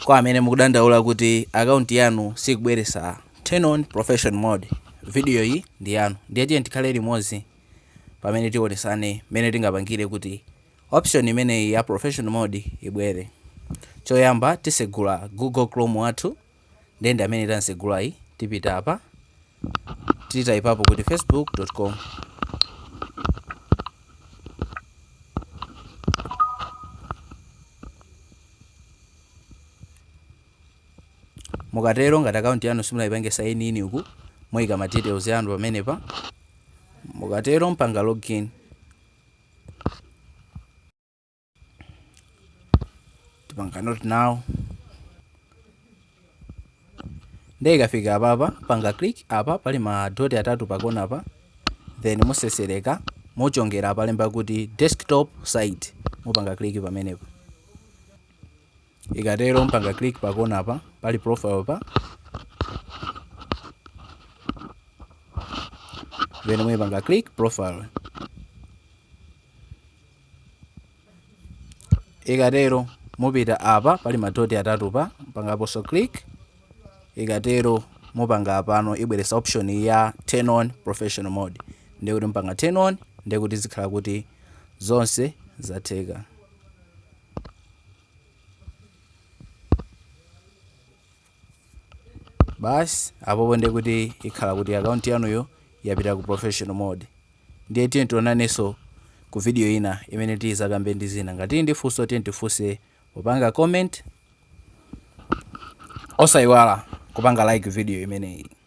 Kwa amene mukudandaula kuti account yanu sikubweresa turn on profession mode video iyi ndi yanu ndiye tiyeni tikhale limodzi pamene tionesane mmene tingapangire kuti option imeneyi ya profession mode ibwere choyamba tisegula google chrome wathu ndiye ndi amene tamsegulayi tipita apa titaipapo kuti facebook.com mukatero ngati akaunti yanu simunayipange sign in uku moyika ma details yanu pamenepa mukatero mpanga login tipanga not now ndiye ikafika apapa mpanga click apa pali ma dot atatu pakona apa then musesereka muchongera apalemba kuti desktop site mupanga click pamenepa ikatero mpanga click pakona apa pali profile pa then muipanga click profile ikatero mupita apa pali madoti atatu pa mpangaponso click ikatero mupanga apano ibweresa option ya turn on professional mode ndiye kuti mupanga turn on ndiye kuti zikhala kuti zonse zatheka Basi apopo ndiye kuti ikhala kuti account yanuyo yapita ku professional mode. Ndiye tiyeni tionanenso ku video ina imene tizakambe ndi zina. Ngati tili ndi funso tiyeni tifunse popanga comment. Osayiwala kupanga like video imeneyi.